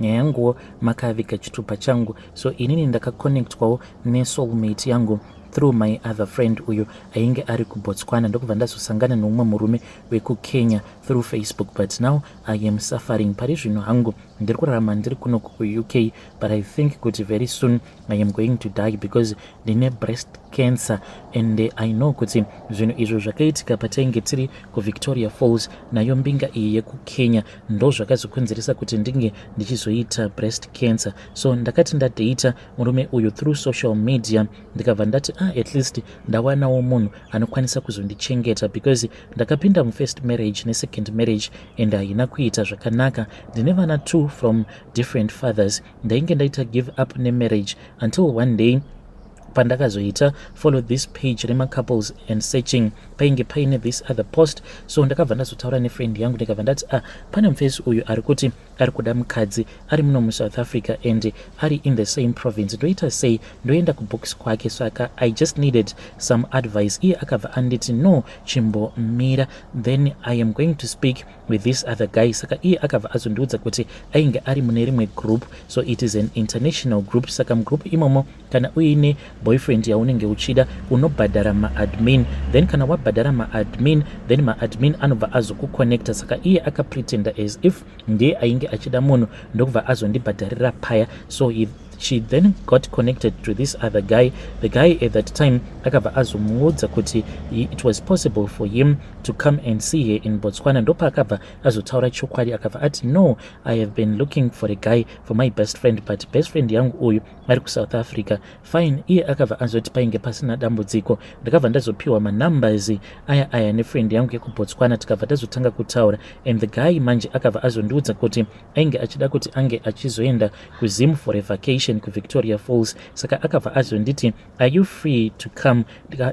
nyaya yanguwo makaviga chitupa changu so inini ndakaconnectwawo nesoulmate yangu through my other friend uyo ainge ari kubotswana ndokubva ndazosangana neumwe murume wekukenya through facebook but now i am suffering pari zvino hangu ndiri kurarama ndiri kuno kuuk but i think kuti very soon i am going to die because ndine breast cancer and i know kuti zvinhu izvo zvakaitika patainge tiri kuvictoria falls nayo mbinga iyi yekukenya ndozvakazokonzeresa kuti ndinge ndichizoita breast cancer so ndakati ndadata murume uyu through social media ndikabva ndati ah at least ndawanawo munhu anokwanisa kuzondichengeta because ndakapinda mufirst marriage nesecond marriage and haina kuita zvakanaka ndine vana two from different fathers ndainge ndaita give up nemarriage until one day pandakazoita follow this page remacouples and searching painge paine this other post so ndakabva ndazotaura nefriend yangu ndikabva ndati ah pane mufesi uyu ari kuti ari kuda mukadzi ari muno musouth africa and ari in the same province ndoita sei ndoenda kubooks kwake saka i just needed some advice iye akabva anditi no chimbomira then i am going to speak with this other guy saka iye akabva azondiudza kuti ainge ari mune rimwe group so it is an international group saka mugroup imomo kana uine boyfriend yaunenge uchida unobhadhara maadmin then kana wabhadhara maadmin then maadmin anobva azokukonnecta saka iye akapretenda as if ndiye ainge achida munhu ndokubva azondibhadharira paya so he she then got connected to this other guy the guy at that time akabva azomuudza kuti it was possible for him to come and see her in botswana ndopaakabva azotaura chokwadi akabva ati no i have been looking for a guy for my best friend but best friend yangu uyu vari kusouth africa fine iye akabva anzoti painge pasina dambudziko ndakabva ndazopiwa manumbers aya aya nefriend yangu yekubotswana tikabva tazotanga kutaura and the guy manje akabva azondiudza kuti ainge achida kuti ange achizoenda kuzim for a vacation kuvictoria falls saka akabva azonditi are you free to come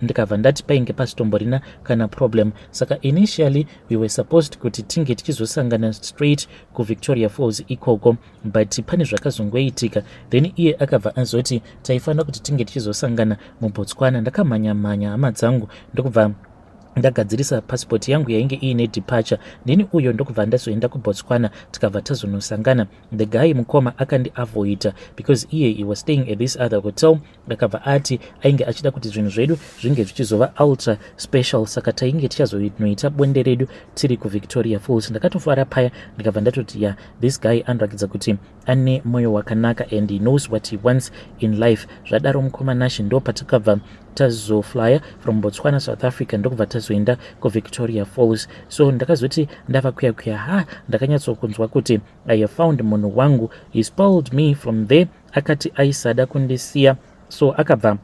ndikabva ndati painge pasitomborina kana problem saka initially we were supposed kuti tinge tichizosangana straight kuvictoria falls ikoko but pane zvakazongoitika then iye akabva azoti taifanira kuti tinge tichizosangana mubotswana ndakamhanya mhanya hama dzangu ndokubva ndagadzirisa pasipoti yangu yainge iine departure neni uyo ndokubva ndazoenda kubotswana tikabva tazonosangana the guy mukoma akandiavoida because iye he was staying at this other hotel ndakabva ati ainge achida kuti zvinhu zvedu zvinge zvichizova ultra special saka tainge tichazonoita bonde redu tiri kuvictoria falls ndakatofara paya ndikabva ndatoti ya this guy anorakidza kuti ane mwoyo wakanaka and he knows what he wants in life zvadaro mukoma nashe ndo patakabva tazoflya from botswana south africa ndokubva tazoenda kuvictoria falls so ndakazoti ndava kuya kuya ha ndakanyatsokunzwa kuti i have found munhu wangu he spoiled me from there akati aisada kundisiya so akabva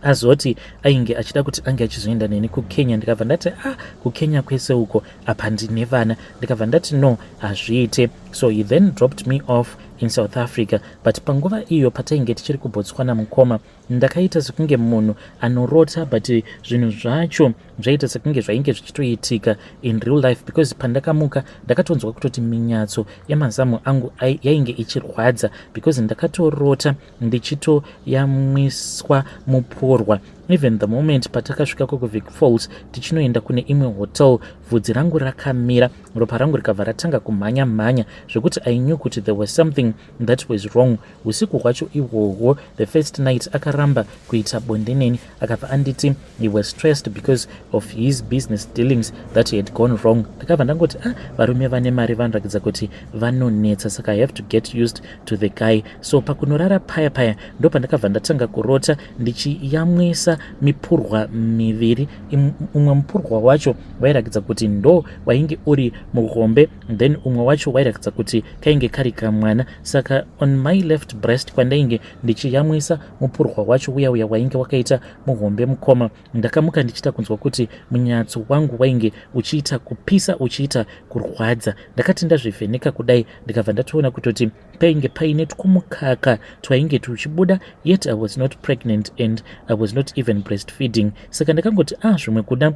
azoti ainge achida kuti ange achizoenda neni kukenya ndikabva ndati ah kukenya kwese uko apa ndine vana ndikabva ndati no hazviite so he then dropped me off in south africa but panguva iyo patainge tichiri kubotswana mukoma Ndakaita sekunge munhu anorota but zvinhu zvacho zvaita sekunge zvainge zvichitoitika in real life because pandakamuka ndakatonzwa kutoti minyatso yemazamu angu yainge ichirwadza because ndakatorota ndichitoyamwiswa muporwa even the moment patakasvika kukuvic falls tichinoenda kune imwe hotel vhudzi rangu rakamira ropa rangu rikabva ratanga kumhanya mhanya zvekuti i knew kuti there was something that was wrong Usiku hwacho ihwohwo, the first night akaramba kuita bonde neni akabva anditi he was stressed because of his business dealings that had gone wrong. Ndakabva ndangoti ah, varume vane mari vanoratidza kuti vanonetsa saka I have to get used to the guy. So pakunorara paya paya ndo pandakabva ndatanga kurota ndichiyamwisa mipurwa miviri. Umwe mupurwa wacho wairatidza kuti ndo wainge uri muhombe then umwe wacho wairatidza kuti kainge kari kamwana. saka on my left breast kwandainge ndichiyamwisa mupurwa wacho uya uya wainge wakaita muhombe mukoma ndakamuka ndichiita kunzwa kuti munyatso wangu wainge uchiita kupisa uchiita kurwadza ndakati ndazvivheneka kudai ndikabva ndatoona kutoti painge paine twumukaka twainge tuchibuda yet i was not pregnant and i was not even breastfeeding saka ndakangoti ah zvimwe kuda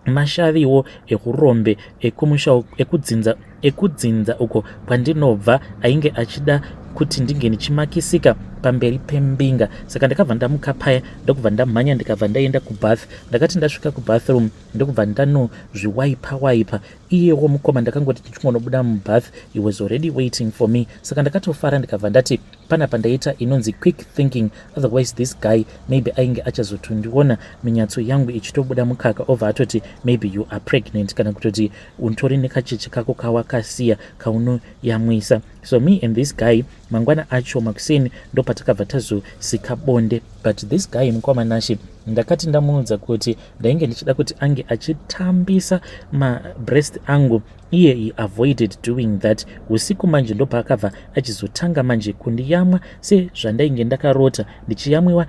mashaviwo ekurombe ekumusha ekudzinza ekudzinza uko kwandinobva ainge achida kuti ndinge ndichimakisika pamberi pembinga saka ndakabva ndamuka paya ndokubva ndamhanya ndikabva ndaenda kubath ndakati ndasvika kubathroom ndokubva ndanozviwaipa waipa iyewo mukoma ndakangoti ndichingonobuda mubath he was already waiting for me saka ndakatofara ndikabva ndati Pana pandaita inonzi quick thinking otherwise this guy maybe ainge achazotondiona minyatso yangu ichitobuda mukaka obva atoti maybe you are pregnant kana kutoti untori nekacheche kako kawakasiya kaunoyamwisa so me and this guy mangwana acho makuseni ndopatakabva tazosika bonde but this guy mukoma nashe ndakati ndamuudza kuti ndainge ndichida kuti ange achitambisa mabreast angu iye he avoided doing that usiku manje ndopaakabva achizotanga manje kundiyamwa sezvandainge ndakarota ndichiyamwiwa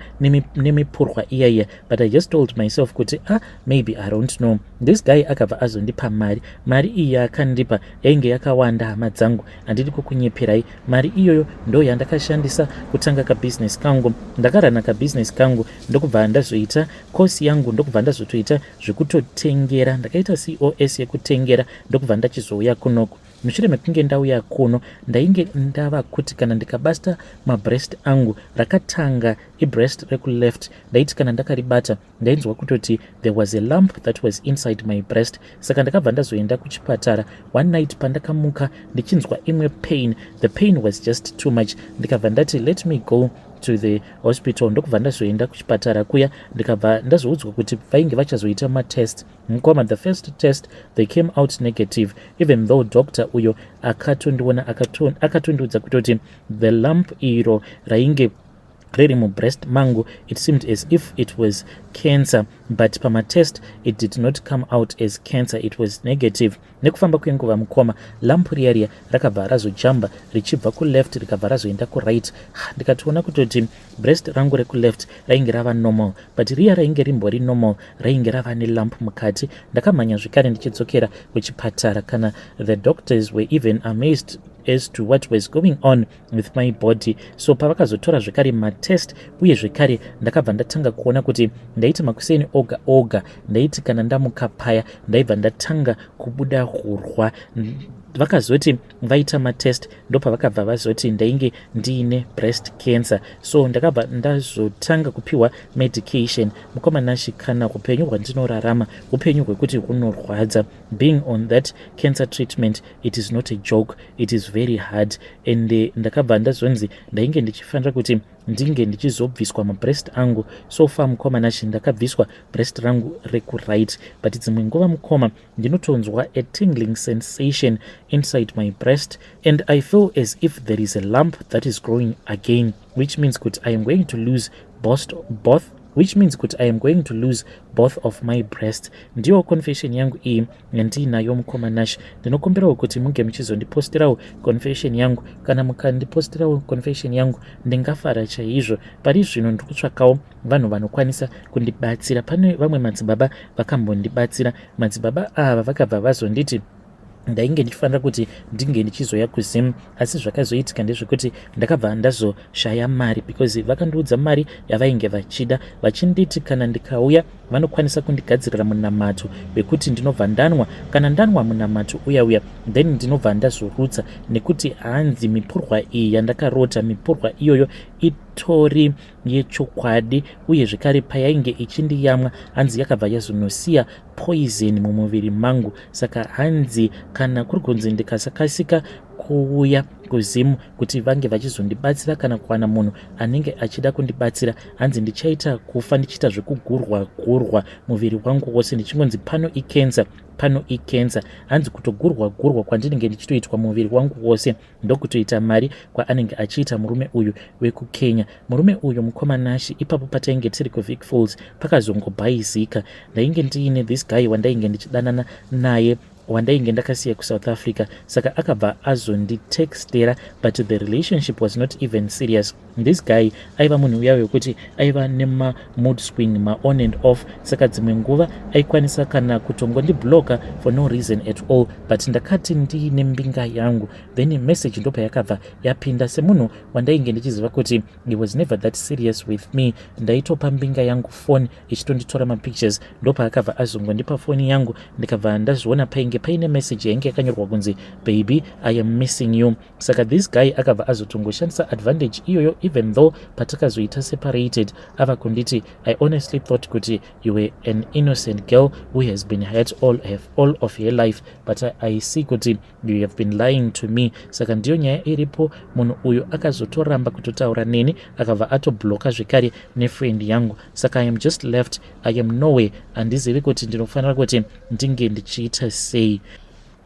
nemipurwa iya iya but i just told myself kuti ah maybe i don't know this guy akabva azondipa mari mari iyi yaakandipa yainge yakawanda hama dzangu handidi kukunyeperai mari iyoyo ndo yandakashandisa kutanga kabusiness kangu ndakarana kabusiness kangu ndokubva ndazoita kosi yangu ndokubva ndazotoita zvekutotengera ndakaita cos yekutengera ndokubva ndachizouya kunoku mushure mekunge ndauya kuno ndainge ndava kuti kana ndikabasta mabrest angu rakatanga ibrest rekuleft ndaiti kana ndakaribata ndainzwa kutoti there was a lump that was inside my brest saka ndakabva ndazoenda kuchipatara one night pandakamuka ndichinzwa imwe pain the pain was just too much ndikabva ndati let me go to the hospital ndokubva ndazoenda kuchipatara kuya ndikabva ndazoudzwa kuti vainge vachazoita matest mukoma the first test they came out negative even though doctor uyo akatondiona akatondiudza kutoti the lump iro rainge riri mubreast mangu it seemed as if it was cancer but pamatest it did not come out as cancer it was negative Nekufamba kwenguva mukoma lamp riya riya rakabva razojamba richibva kuleft rikabva razoenda kuright. Ndikatoona kutoti breast rangu rekuleft rainge rava normal but riya rainge rimbori normal rainge rava nelamp mukati. Ndakamhanya zvekare ndichidzokera kuchipatara kana the doctors were even amazed as to what was going on. with my body so pavakazotora zvekare matest uye zvekare ndakabva ndatanga kuona kuti ndaiti makuseni oga oga ndaiti kana ndamuka paya ndaibva ndatanga kubuda hurwa vakazoti vaita matest ndopavakabva vazoti ndainge ndiine breast cancer so ndakabva ndazotanga kupiwa medication mukomana shikana upenyu hwandinorarama upenyu hwekuti hunorwadza being on that cancer treatment it is not a joke it is very hard and eh, ndakabva ndazonzi ndainge ndichifanira kuti ndinge ndichizobviswa mabreast angu so far mukoma nachi ndakabviswa breast rangu rekuright but dzimwe nguva mukoma ndinotonzwa a tingling sensation inside my breast and i feel as if there is a lump that is growing again which means kuti i am going to lose both, both which means kuti i am going to lose both of my breast ndiyo confession yangu iyi yandiinayo mukoma nash ndinokumbirawo kuti munge muchizondipostirawo confession yangu kana mukandipostirawo confession yangu ndingafara chaizvo pari zvino ndiri kutsvakawo vanhu vanokwanisa kundibatsira pane vamwe madzibaba vakambondibatsira madzibaba ava vakabva vazonditi ndainge ndichifanira kuti ndinge ndichizoya kuzim asi zvakazoitika ndezvekuti ndakabva ndazoshaya mari because vakandiudza mari yavainge vachida vachinditi kana ndikauya vanokwanisa kundigadzirira munamato wekuti ndinobva ndanwa kana ndanwa munamato uya uya then ndinobva ndazorutsa nekuti hanzi mipurwa iyi yandakarota mipurwa iyoyo itori yechokwadi uye zvekare payainge ichindiyamwa hanzi yakabva yazonosiya poison mumuviri mangu saka hanzi kana kuri kunzi ndikasakasika kuuya kuzimu kuti vange vachizondibatsira kana kuwana munhu anenge achida kundibatsira hanzi ndichaita kufa ndichiita zvekugurwa gurwa muviri wangu wose ndichingonzi pano ikenza pano ikenza hanzi kutogurwa gurwa kwandinenge ndichitoitwa muviri wangu wose ndokutoita mari kwaanenge achiita murume uyu wekukenya murume uyu mukoma nashi ipapo patainge tiri kuvic falls pakazongobhaizika ndainge ndiine this guy wandainge ndichidanana naye wandainge ndakasiya kusouth africa saka akabva azonditextera but the relationship was not even serious This guy aiva munhu uya wekuti aiva nema mood swing ma on and off saka dzimwe nguva aikwanisa kana kutongondi blocker for no reason at all but ndakati ndiine mbinga yangu then message ndopa yakabva yapinda semunhu wandainge ndichiziva kuti he was never that serious with me ndaitopa mbinga yangu phone ichitonditora mapictures ndopa akabva azongondipa foni yangu ndikabva ndazviona painge paine message yainge yakanyorwa kunzi baby i am missing you saka this guy akabva azotongoshandisa advantage iyoyo even though patakazoita separated ava kunditi i honestly thought kuti you were an innocent girl who has been hurt all, have, all of her life but I, i see kuti you have been lying to me saka ndiyo nyaya iripo munhu uyu akazotoramba kutotaura neni akabva atobloka zvekare nefriend yangu saka i am just left i am noway handizivi kuti ndinofanira kuti ndinge ndichiita sei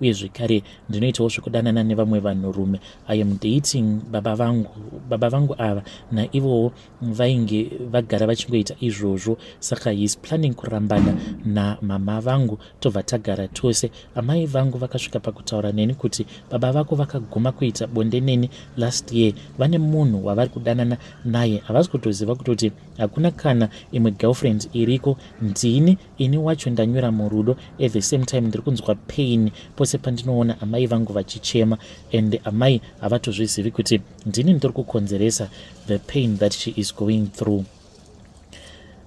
uye zvekare ndinoitawo zvekudanana nevamwe vanhurume i am dating baba vangu baba vangu ava naivowo vainge vagara vachingoita izvozvo saka his planning kurambana namama vangu tobva tagara tose amai vangu vakasvika pakutaura neni kuti baba vako vakaguma kuita bonde neni last year vane munhu wavari kudanana naye havasi kutoziva kutoti hakuna kana imwe girlfriend iriko ndini ini wacho ndanyura murudo at the same time ndiri kunzwa pain pose pandinoona amai vangu vachichema and amai havatozvizivi kuti ndini ndiri kukonzeresa the pain that she is going through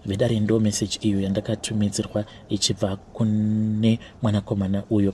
vedare ndo message iyo yandakatumidzirwa ichibva kune mwanakomana uyo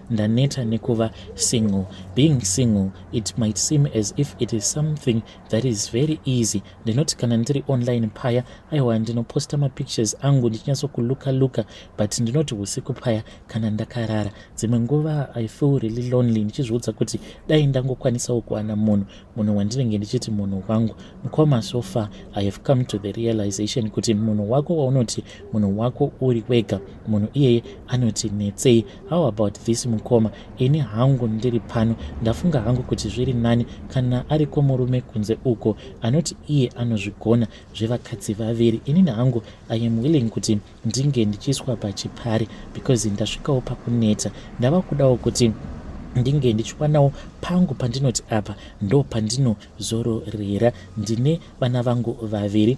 Ndaneta nekuva single. Being single, it might seem as if it is something that is very easy. Ndinoti kana ndiri online paya, aiwa ndinoposta mapictures angu ndichinyatsokuloka loka, but ndinoti usiku paya kana ndakarara. Dzimwe nguva I feel really lonely ndichizviudza kuti dai ndangokwanisawo kuwana munhu, munhu wandinenge ndichiti munhu wangu. Mukoma, so far I have come to the realization kuti munhu wako waunoti munhu wako uri wega munhu iyeye anoti netsei how about this mukoma ini hangu ndiri pano ndafunga hangu kuti zviri nani kana ariko murume kunze uko anoti iye anozvigona zvevakadzi vaviri inini hangu i am willing kuti ndinge ndichiiswa pachipari because ndasvikawo pakuneta ndava kudawo kuti ndinge ndichiwanawo pangu pandinoti apa ndo pandinozororera ndine vana vangu vaviri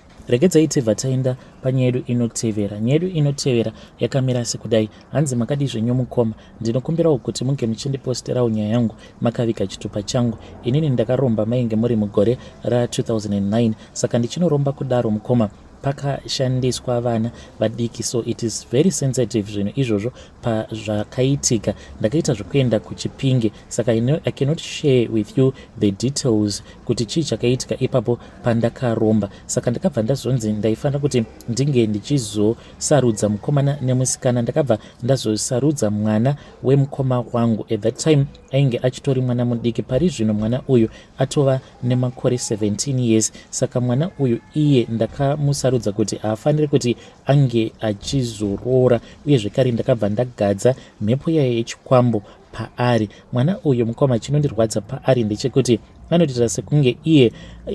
Regedzai tibva taenda panyaya yedu inotevera. Nyaya yedu inotevera yakamira sekudai. Hanzi makadii zvenyu mukoma? Ndinokumbirawo kuti munge muchindiposterawo nyaya yangu makaviga chitupa changu. Inini ndakaromba mainge muri mugore ra2009 saka ndichinoromba kudaro mukoma pakashandiswa vana vadiki so it is very sensitive zvinhu izvozvo pazvakaitika ndakaita zvekuenda kuchipinge saka i cannot share with you the details kuti chii chakaitika ipapo pandakaromba saka ndakabva ndazonzi ndaifanira kuti ndinge ndichizosarudza mukomana nemusikana ndakabva ndazosarudza mwana wemukoma wangu at that time ainge achitori mwana mudiki pari zvino mwana uyu atova nemakore 17 years saka mwana uyu iye ndakamusarudza kuti haafaniri kuti ange achizoroora uye zvekare ndakabva ndagadza mhepo yaye yechikwambo paari mwana uyu mukoma chinondirwadza paari ndechekuti anotiita sekunge iye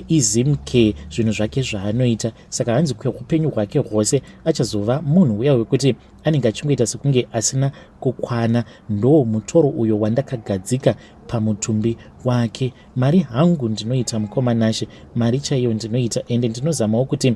izimke zvinhu zvake zvaanoita saka hanzi kweupenyu hwake hwose achazova munhu uya wekuti anenge achingoita sekunge asina kukwana ndoo mutoro uyo wandakagadzika pamutumbi wake mari hangu ndinoita mukoma nashe mari chaiyo ndinoita ende ndinozamawo kuti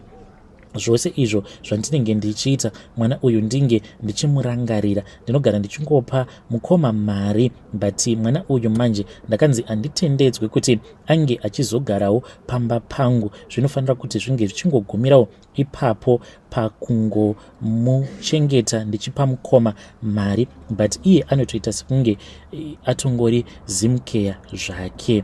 zvose izvo zvandinenge ndichiita mwana uyu ndinge ndichimurangarira ndinogara ndichingopa mukoma mari but mwana uyu manje ndakanzi anditendedzwe kuti ange achizogarawo pamba pangu zvinofanira kuti zvinge zvichingogumirawo ipapo pakungomuchengeta ndichipa mukoma mari but iye anotoita sekunge eh, atongori zimkeya zvake